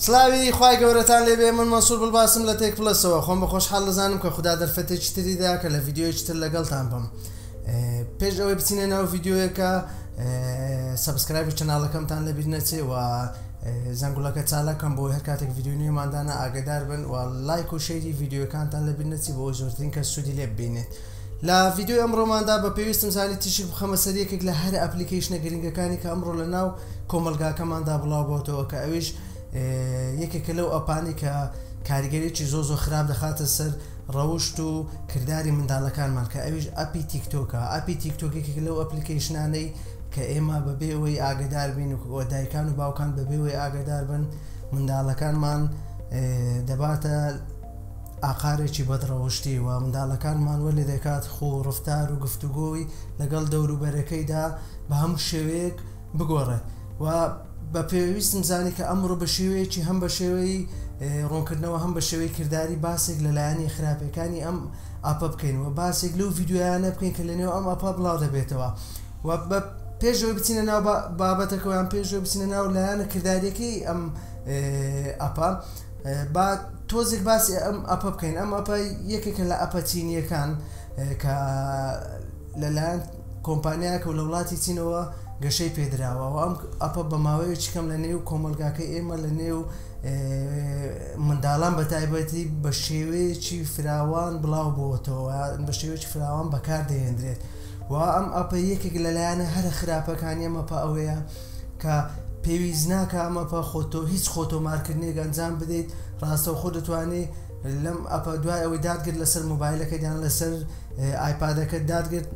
سلاوی خی گەورەتان لێبێ من مەسوور بڵباسم لە تێک پلسەوە خۆم بە خۆشحال دەزانم کە خوددا دەرفەتێکی تریدا کە لە یددیویتر لەگەڵتان بم پێش ئەوەی بچینە ناو یددیوەکە سبسکرایب و چناڵەکەمتان لەبیر نەچێ و زەنگوڵەکە چالاکەن بۆی هەر کاتێک ڤیدیۆی نوێمان دانا ئاگەدار بن و لایک و شەیری ڤیدیۆکانتان لەبیر نەچی بۆ زۆرترین کەس سوودی لێ ببینێت لە ڤیدیۆی ئەمڕۆماندا بە پێویستم زانی تیشک بخەمە سەر یەکێک لە هەرە ئەپلیکەیشنە گرنگەکانی کە ئەمڕۆ لە ناو کۆمەلگاکەماندا بڵاو بۆتەوە کە ئەویش یەکێکە لەو ئەپانی کە کاریگەریی زۆ زۆ خراپ دەخاتە سەر ڕەوشت و کردداری منداڵەکانمان کە ئەویش ئەپی تیکتۆکە ئەپی تیکتۆکێکی لەو ئەپلیکەیشنانەی کە ئێمە بەبێ ئەوەی ئاگەدار بین و دایکان و باوکان بەبێ ئەوەی ئاگەدار بن منداڵەکانمان دەباتە ئاقارێکی بەدڕەوشتی و منداڵەکانمان وە لێ دەکات خۆ ڕفتار و گفتوگۆی لەگەڵ دەوروبەرەکەیدا بە هەموو شێوەیەک بگۆڕێت و بە پێویستم زانی کە ئەمڕۆ بە شێوەیەکی هەم بە شێوەی ڕوونکردنەوە هەم بە شێوەی کردداری باسێک لە لایەنی خراپەکانی ئەم ئاپە بکەین و باسێک لەو یددیویانە بکەین کە لە نێو ئەم ئاپا بڵاو دەبێتەوە. و بە پێش ئەوەی بچینە ناو بابەتەکە یان پێش ئەوەی بچینە ناو لایەنە کرداریەکەی ئەم ئەپە با تۆزێک باسی ئەم ئەپە بکەین ئەم ئەپە یەکێکە لە ئەپە چینیەکان کە لەلایەن کۆمپانیایەکە و لە وڵاتی چینەوە گەشەی پێدراوە و ئەم ئەپە بە ماوەیە چکەم لە نێو کۆمەلگاکەی ئێمە لە نێو منداڵان بە تایبەتی بە شێوەیەکی فراوان بڵاو بۆتەوە بە شێوەیەکی فراوان بەکار دەهێندرێت وە ئەم ئەپە یەکێک لە لایەنە هەرە خراپەکانی ئەم ئەپە ئەوەیە کە پێویست ناکا ئەم ئەپە خۆ تۆ هیچ خۆ تۆمار کردنێک ئەنجام بدەیت ڕاستەوخۆ دەتوانی لەم ئەپە دوای ئەوەی داتگرت لەسەر مۆبایلەکەت یان لەسەر ئایپادەکەت داتگرت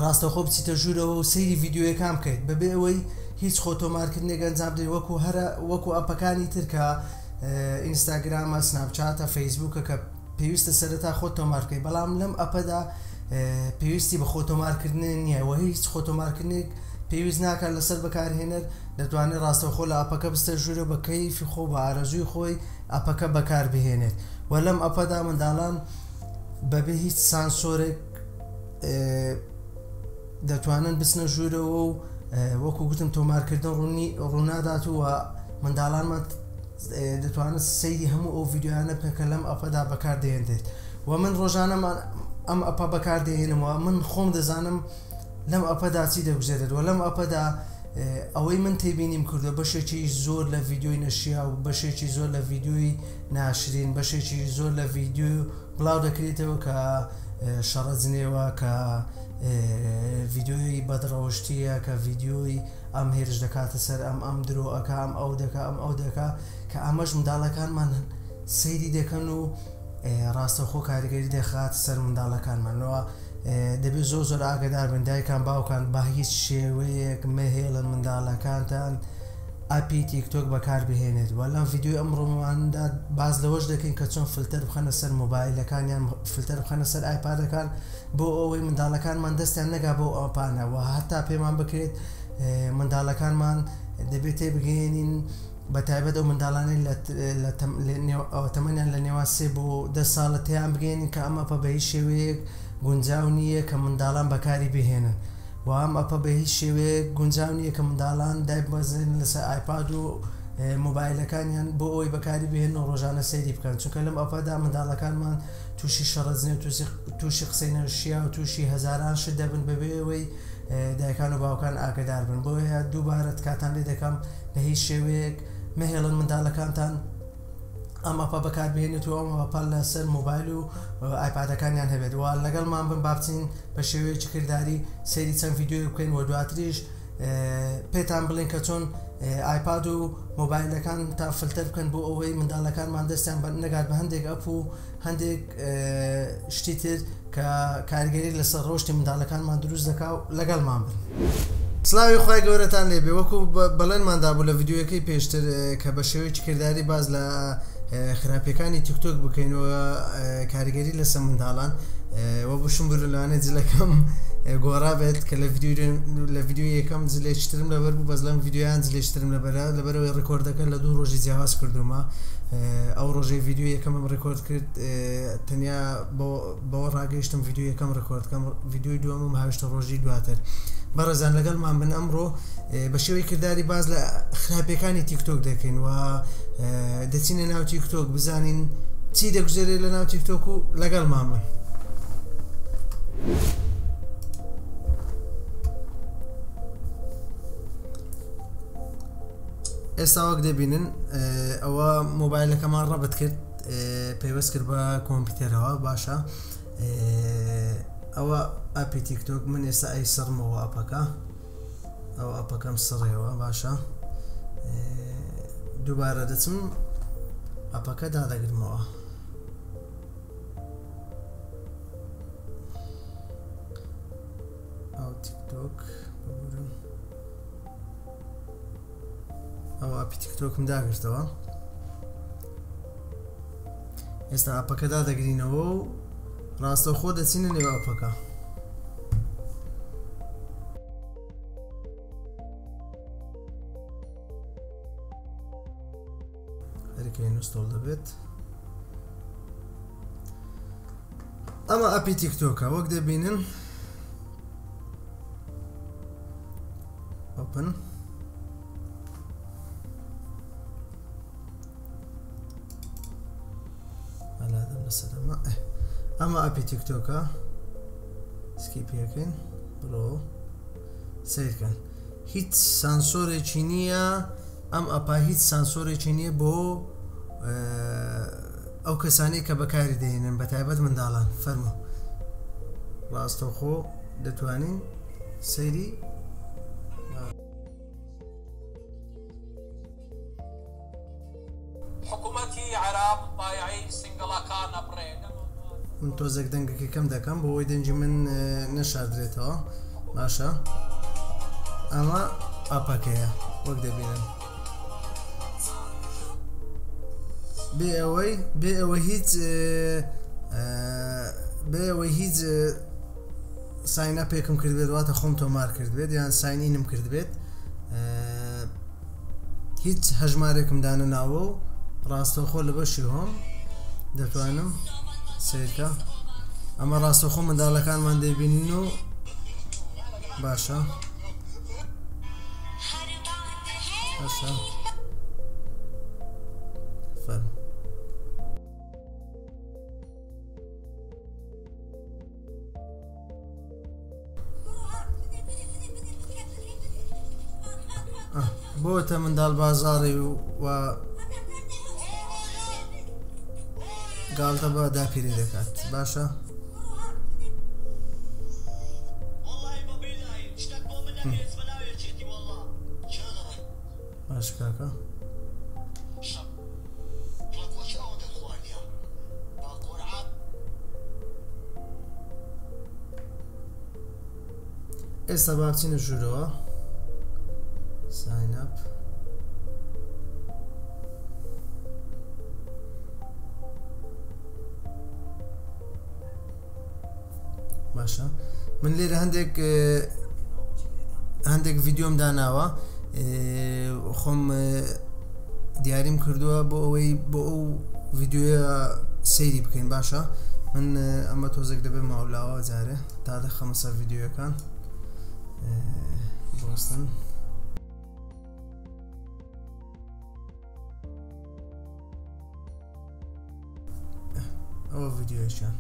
ڕاستەخۆ بچیتە ژوورەوە و سەیری ڤیددیوەکان بکەیت بەبێ ئەوەی هیچ خۆ تۆمارکردنێک ئەنجام بدەیت وەکو هەرە وەکو ئەپەکانی ترکە ئینستاگرامە سناپچاتە فەیسبووکە کە پێویستە سەرەتا خۆت تۆمار بکەیت بەڵام لەم ئەپەدا پێویستی بە خۆتۆمارکردنێ نییە وە هیچ خۆتۆمارکردنێک پێویست ناکات لەسەر بەکارهێنەر دەتوانێت ڕاستەوخۆ لە ئەپەکە بستە ژوورە بە کەیفی خۆ بە ئارەزووی خۆی ئەپەکە بەکار بهێنێت و لەم ئەپەدا منداڵان بەبێ هیچ سانسۆرێک دەتوانن بچنە ژوورەوە و وەکو گوتم تۆمارکردن ڕوونی ڕوونادات و منداڵانمان دەتوانن سەیری هەموو ئەو ڤیددیویانە بکەن کە لەم ئەپەدا بەکاردێنرێت و من ڕۆژانەمان ئەم ئەپە بەکاردێنمەوە من خۆم دەزانم لەم ئەپەدا چی دەگوزێتێت و لەم ئەپەدا ئەوەی من تێبینیم کردو بەشێکی زۆر لە ڤیددیوی نەشیا و بەشێکی زۆر لە ڤیددیوی ناشرین بەشێکی زۆر لە ڤیددیو بڵاو دەکرێتەوە کە شەڕەجنێوە کە ڤیددیوی بەدڕەوشتیە کە ڤیددیوی ئەم هێرش دەکاتە سەر ئەم، ئەم درۆ ئەکا، ئەم ئەو دەکا، ئەم ئەو دەکا، کە ئەمەش منداڵەکانمان سەیری دەکەن و ڕاستەوخۆ کاریگەری دەخات سەر منداڵەکانمانەوە دەبێت زۆر زۆر ئاگدار بن دایکان باوکان با هیچ شێوەیەک مەهێڵن منداڵەکانتان ئەپی تیکتۆک بەکاربهێنێت و لەم یددیوی ئەم ڕۆماندا باز لەوەش دەکەین کە چۆن فلتەر بخەنە سەر مۆبایلەکانیان فلتەر بخەنە سەر ئایپادەکان بۆ ئەوەی منداڵەکانمان دەستیان نەگا بەو ئەپانە و هەتا پێمان بکرێت منداڵەکانمان دەبێت تێبگەێنین بە تایبەت ئەو منداڵانی تەمەنیان لە نێوان سێ بۆ دە ساڵە تیان بگەێنین کە ئەمە پە بە هیچ شێوەیەک گونجاو نییە کە منداڵان بەکاری بهێنن و ئەم ئەپە بە هیچ شێوەیەک گونجاو نییە کە منداڵان دایبمەزن لەسەر ئایپاد و مۆبایلەکانیان بۆ ئەوی بەکاری بهێن و ڕۆژانە سەیری بکەن چونکە لەم ئەپەدا منداڵەکانمان تووشی شەڕەجنێو، تووشی قسەی نەشیاو، تووشی هەزاران شت دەبن بەبێ ئەوەی دایکان و باوکان ئاگەدار بن، بۆیە دووبارە تکاتان لێ دەکەم بە هیچ شێوەیەک مەهێڵن منداڵەکانتان ئەم ئەپە بەکاربهێنێت و ئەم ئەپە لەسەر مۆبایل و ئایپادەکانیان هەبێت و لەگەڵمان بن با بچین بە شێوەیەکی کرداری سەیری چەند ڤیدیۆیەک بکەین و دواتریش پێتان بڵێن کە چۆن ئایپاد و مۆبایلەکان تا فلتەر بکەن بۆ ئەوەی منداڵەکانمان دەستیان بە نەگات بە هەندێک ئەپ و هەندێک شتی تر کە کارگەری لەسەر ڕۆشتی منداڵەکانمان دروست دەکا و لەگەڵمان بن. سلاوی خی گەورەتان لێبێ وەکو بەڵێنماندا بوو لە یددیوەکەی پێشتر کە بە شێوەیەکی کردداری باز لە خراپیەکانی تیک تۆک بکەین و کاریگەری لەسە منداڵان وە بشم بر لەوانێ جلەکەم گۆڕا بێت کە لە لە ڤیددیو یەکەم جلێشترم لەبەر بوو بەس لەم ڤیددیویان جلێشترم لەبەرە لەبەرەوەی ڕکۆردەکە لە دوو ڕۆژی جیاواز کردومە ئەو ڕۆژەی ڤیددیو یەکەمم ڕکۆرد کرد تەنیا بۆ بەوە ڕاگەیشتم ڤیدیۆ یەکەم ڕیکۆرد کەم ڤیدیۆی دووەمم هاویشتە ڕۆژی دواتر بەڕێزان لەگەڵمان بن ئەمڕۆ بە شێوەی کردداری باز لە خراپەکانی تیکتۆک دەکەین و دەچینە ناو تیکتۆک بزانین چی دەگوزێرێت لە ناو تیکتۆک و لەگەڵمان بن. ئێستا وەک دەبینن ئەوە مۆبایلەکەمان ڕەبت کرد پەیوەست کرد بە کۆمپیوتەرەوە باشە ئەوە ئەپی تیکتۆک من ئێستا ئەی سڕمەوە ئەپەکە ئەو ئەپەکەم سڕێەوە باشە دووبارە دەچم ئەپەکە دادەگرمەوە ئەو تیکتۆک بگورم ئەو ئەپی تیکتۆکم داگرتەوە ئێستا ئەپەکە دادەگرینەوە و ڕاستەوخۆ دەچینە نێو ئەپەکە هەرکە نوستۆڵ دەبێت ئەمە ئەپی تیکتۆکە وەک دەبینن ئۆپن ئەمە ئەپی تیکتۆکە سکی پێکەین ڕۆ سیرکەن هیچ سانسۆرێکی نییە ئەم ئەپا هیچ سانسۆرێکی نییە بۆ ئەو کەسانی کە بەکاری دەێنن بە تایبەت منداڵان فەرمو ڕاستەخۆ دەتوانین سەیری حکومەتی عێراق بایەعی سینگڵەکان ئەبڕێ. من تۆزێک دەنگەکە کەم دەکەم بۆ ئەوەی دەنگی من نەشاردرێتەوە باشە ئەمە ئاپەکەیە وەک دەبینن بێ ئەوەی بێ ئەوە هیچ بێ ئەوەی هیچ ساین ئەپێکم کردبێت واتە خۆم تۆمار کردبێت یان ساین ئینم کردبێت هیچ هەژمارێکم دانە ناوە و ڕاستەوخۆ لە بەشی هۆم دەتوانم سیرکە ئەمە ڕاستەخۆ منداڵەکانمان دەبینن و باشە باشە فەرم بۆتە منداڵ بازاڕی و و گاڵتە بە داپیری دەکات باشە باش کاکە ئێستا با بچینە ژوورەوە ساینپ باشە من لێرە هەندێک هەندێک ڤیددیۆم داناوە خۆم دیاریم کردووە بۆ ئەوەی بۆ ئەو ڤیددیوە سەیری بکەین باشە من ئەمە تۆزێک دەبێ ماولاوە جارێ تا دەخەمە سەر ڤیددیوەکان بۆستن. ئەوە ڤیددیوشان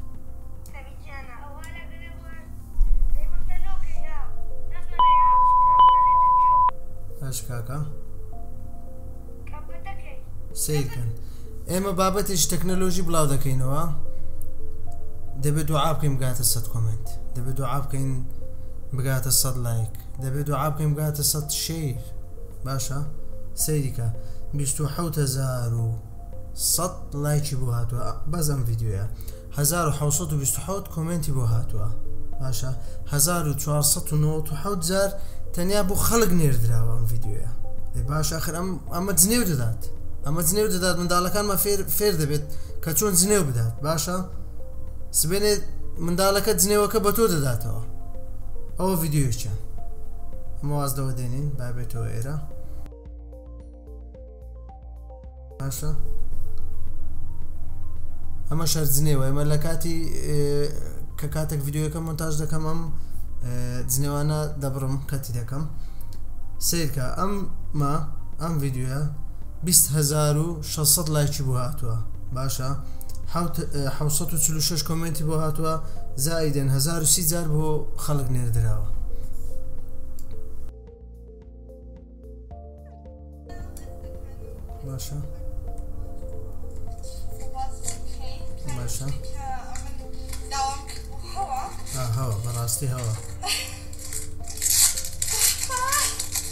هەش کاکە سیرکن ئێمە بابەتێکی تەکنەلۆژی بڵاو دەکەینەوە دەبێت دوعا بکەین بگاتە سەد کۆمنت دەبێت دوعا بکەین بگاتە سەد لایک دەبێت دوعا بکەین بگاتە سەد شیر باشە سەیری کە بیست و حەوت هەزار و سەد لایکی بۆ هاتووە بەس ئەم ڤیدیۆیە هەزار و حەوسەد و بیست و حەوت کۆمێنتی بۆ هاتووە باشە هەزار و چوارسەد و نەوەت و حەوت جار تەنیا بۆ خەڵک نێردراوە ئەم ڤیدیۆیە ئێ باش ئەخر ئەم ئەمە جنێو دەدات ئەمە جنێو دەدات منداڵەکانمە فێر فێر دەبێت کە چۆن جنێو بدات باشە سبێنێ منداڵەکە جنێوەکە بە تۆ دەداتەوە ئەوە ڤیددیویچە ئەمە واز لەوە دێنین بابێتەوە ئێرە باشە ئەمە شەرجنێوە ئەمە لە کاتی کە کاتێک ڤیددیوەکە منتاج دەکەم ئەم جنێوانە دەبڕم کەتی دەکەم سیرکە ئەم ما ئەم ڤیددیوە 20هزار و شەش سەد لایکی بۆ هاتوە باشە حەوت حەوت سەد و چل و شەش کۆمێنتی بۆ هاتوە زائیدەن هەزار و سی جار بۆ خەڵک نێردراوە باشە باشە هەوا بەڕاستی هەوا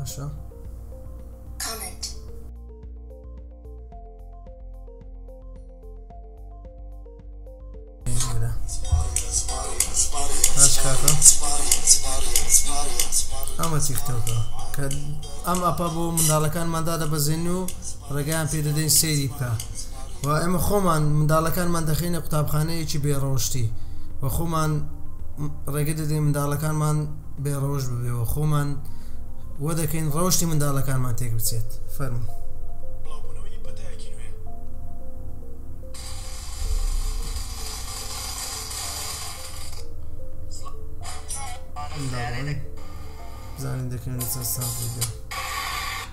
باشە کامنت ئەمە تیکتۆکە کە ئەم ئەپە بۆ منداڵەکانماندا دەبەزێن و ڕێگەیان پێ دەدەین سێری بکە و ئێمە خۆمان منداڵەکانمان دەخەینە قوتابخانەیەکی بێڕەوشتی و خۆمان ڕێگە دەدەین منداڵەکانمان بێڕەوش ببێ و خۆمان وە دەکەین ڕەوشی منداڵەکانمان تێک بچێت فەرمو زانین دەکەن سەر ساز بگەن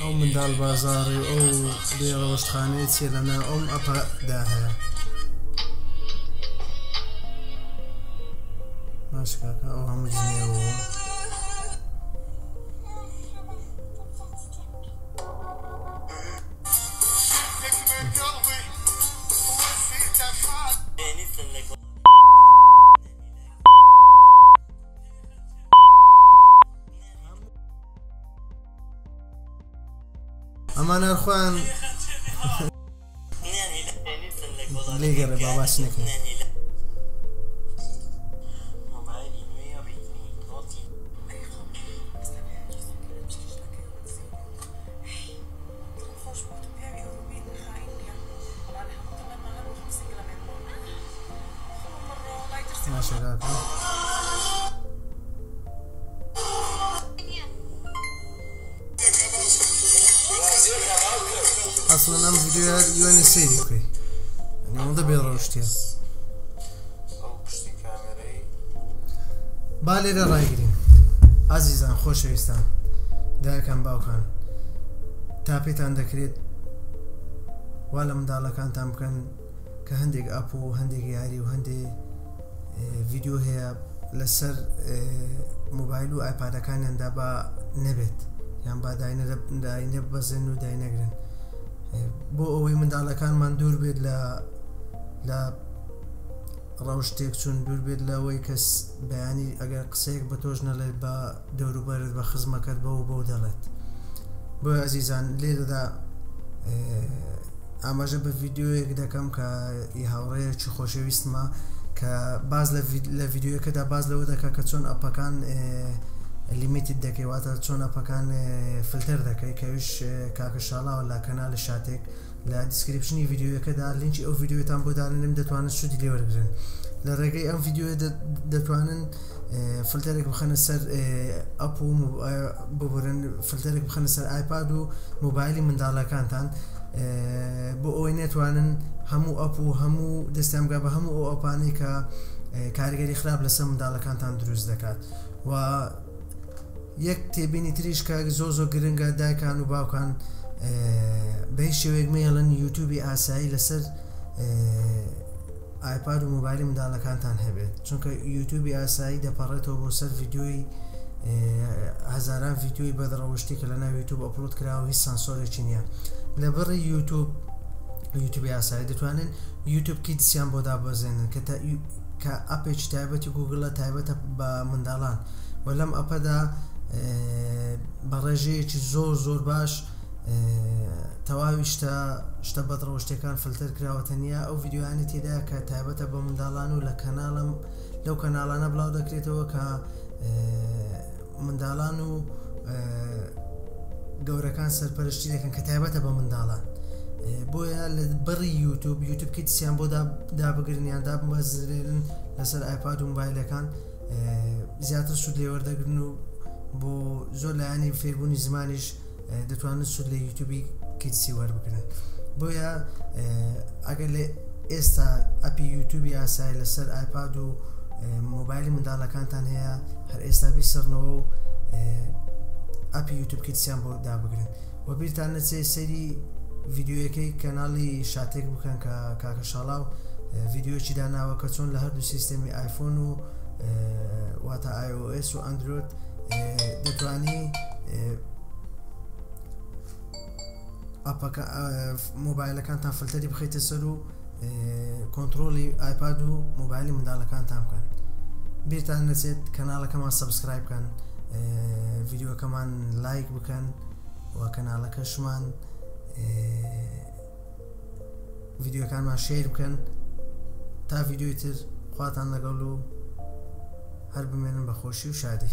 ئەو منداڵ بازاڕی و ئەو بێ ڕەوشتخانەیە چیە لە ناو ئەم ئەپە دا هەیە ماشکاکە ئەو هەموو جنێوە ئەمان ئەرخۆیان لێ گەڕێ باباس نەکەن ئەسڵەن ئەم ڤیددیو هەر یوێنە سەیری بکەی ئەوەندە بێ ڕەوشتە با لێرە ڕایگرین ئازیزان خۆشەویستان دایکان باوکان تا پێتان دەکرێت وا لە منداڵەکانتان بکەن کە هەندێک ئاپ و هەندێک یاری و هەندێ ڤیددیو هەیە لەسەر موبایل و ئایپادەکانیاندا بە نەبێت یان با داینە بەزێن و داینەگرن بۆ ئەوەی منداڵەکانمان دوور بێت لە لە ڕەوشتێک چون دوور بێت لەوەی کەس بەیانی ئەگەر قسەیەک بە تۆش نەڵێت بە دەوروبەرت بە خزمەکەت بەو و بەو دەڵێت. بۆیە ئەزیزان لێرەدا ئاماژە بە ڤیدیۆیەک دەکەم کە ئی هاوڕێیەکی خۆشەویستمە کە باز لە ڤیدیۆیەکەدا باز لەوە دەکە کە چۆن ئەپەکان لیمیتت دەکەیواتە چۆن ئەپەکان فلتەر دەکەی کەویش کاکە شاڵاوە لە کەنالی شاتێک لە دیسکریپشنی ڤیدیۆیەکەدا لینکی ئەو ڤیدیۆتان بۆ داننم دەتوانن سوودی لێ وەرگن لە ڕێگەی ئەم ڤیدیۆ دەتوانن فلتەرێک بخەنە سەر ئەپ و ببورن فلتەرێک بخەنە سەر ئایپاد و موبایلی منداڵەکانتان بۆ ئەوەی نێتوانن هەموو ئەپ و هەموو دەستیانگا بە هەموو ئەو ئەپانەی کە کاریگەری خراپ لەسەر منداڵەکانتان دروست دەکات و یەک تێبینی تریش کاک زۆ زۆ گرنگە دایکان و باوکان بە هیچ شێوەیەک مەیەڵن یوتوبی ئاسایی لەسەر ئایپاد و مۆبایلی منداڵەکانتان هەبێت چونکە یوتوبی ئاسایی دەپەڕێتەوە بۆ سەر ڤیددیۆی هەزاران ڤیددیۆی بەدڕەوشتی کە لە ناو یوتوب ئەپلوت کراوە هیچ سانسۆرێکی نییە لە بڕی یوتوب یوتوبی ئاسایی دەتوانن یوتوب کیدسیان بۆ دابەزێنن کە کە ئەپێکی تایبەتی گوگلە تایبەتە بە منداڵان و لەم ئەپەدا بە ڕێژەیەکی زۆر زۆر باش تەواوی شتە شتە بەدڕەوشتەکان فلتەر کراوە تەنیا ئەو یددیوانی تێدا کە تایبەتە بە منداڵان و لە کەناڵم لەو کەناڵانە بڵاو دەکرێتەوە کە منداڵان و گەورەکان سەرپەرشتی دەکەن کە تایبەتە بە منداڵان بۆیە لە بەڕی یوتوب یوتوب کتسیان بۆ دابگرنیان دابمەزرێنن لەسەر ئایپاد و موبایلەکان زیاتر سوود لێوەردەگرن و بۆ زۆر لایانی فێربوونی زمانیش دەتوانن سود لە یوتوبی کیتسی وەربگرن بۆیە ئەگەر لە ئێستا ئەپی یوتوبی ئاسای لەسەر ئایپاد و مۆبایلی منداڵەکانتان هەیە هەر ئێستا بیسەرنەوە و ئەپی یوتوب کیتسیان بۆ دابگرن و بیرتان نەچێ سەری ڤیددیوەکەی کەناڵی شاتێک بکەن کە کاکە شاڵا و ڤیددیوچی داناوە کە چۆن لە هەردوو سیستەمی آیفۆن و واتە iOS و ئەندرۆت دەتانی ئەپەکە مۆبایلەکانتان فلتەری بخیتە سەر و کۆنتترۆلی ئایپاد و مۆبایلی منداڵەکانتان بکەن بیرتان نەچێت کەناڵەکەمان سبسکرایب بکەن ڤیددیوەکەمان لایک بکەن و کەناڵەکەشمان ڤیددیوەکانمان شیر بکەن تا ڤیددیوی تر خواتان لەگەڵ و هەر بمێنن بە خۆشی و شادی